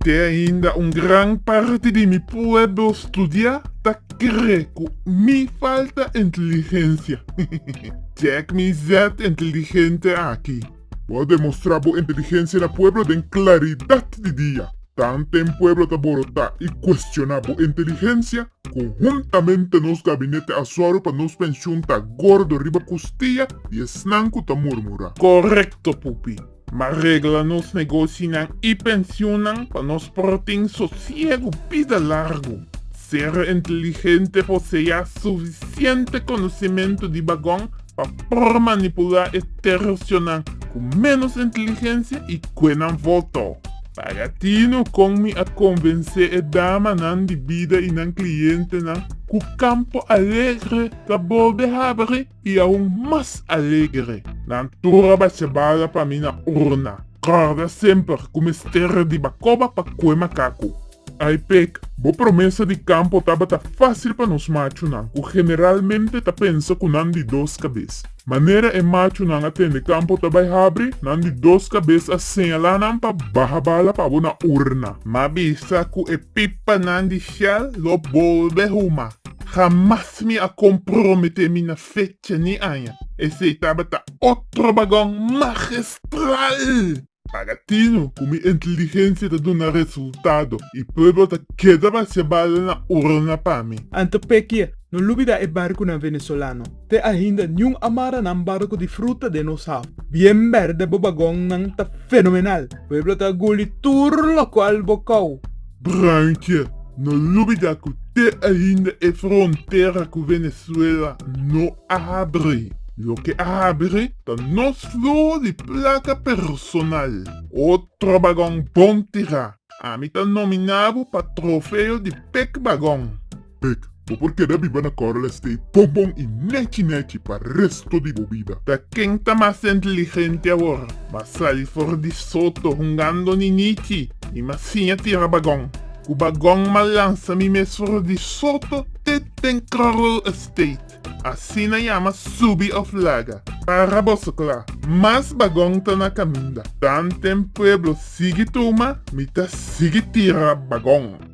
Te ainda un gran parti di mi pueblo studia ta kre ku mi falta inteligencia. Check mi zet inteligente aki. Bo a demostrá bo inteligensia na pueblo den klaridat di dia. Ta anten pueblo ta borotá i kuestioná bo inteligensia? Konhuntamente nos gabinete a sòru pa nos penshun ta gordo riba kustia di esnan ku ta murmurá. Korekto, Pupi. M'a regla nos negoshinan i penshunnan pa nos por tin sosiegu bida largu. Ser inteligente por sea sufisiente konosimentu di bagon pa por manipulá e tersionan ku ménos inteligensia i kue nan voto. Para tino kon mi a konvensé e damanan di bida i nan klientenan ku Campo Alegre ta bolbe habri i aun mas alegre. Nan tur a bacha bala pa mi na urna. Kòrda semper ku mester riba koba pa kue makaku. Aipec, Bo promesa di campo tabata facil pa nos machunan, cu generalmente ta pensa cu nan di dos cabes. Manera e machunan a tende campo ta bay habri, nan di dos cabes a señala nan pa baha bala pa abo na urna. M'a bisa cu e pipanan di Shell lo bolbe huma. Jamas mi a compromete mi na fecha ni aña. Esey tabata otro bagon magistral! Para tino cu mi inteligencia ta duna resultado y pueblo ta keda bacia bala na urna pa mi. Anto pekie, no lubida e barcunan Venezolano. Te ainda niun a mara nan barco di fruta den nos haf. Bien berde bo bagonnan ta fenomenal. Pueblo ta guli tur locual bo cau. Bruinkie, no lubida cu te ainda e frontera cu Venezuela no Abri, Loke abri ta nos flor di placa personal. O trobagon bon tira. Ami ta nomina bo pa trofeo di Pek Bagon. Pek, Bo por keda biba na Coral Estate bon bon y nechi nechi pa resto di bo bida. Ta ken ta mas inteligente awor? Mas sali for di soto hungando ninichi y mas siña tira bagon. Cu bagon ma lansa mi mes for di soto te den Coral Estate. Asina yama subi òf laga. Para boso kla, mas bagon ta na kaminda. Tanten pueblo sigui tuma, mi ta sigui tira bagon.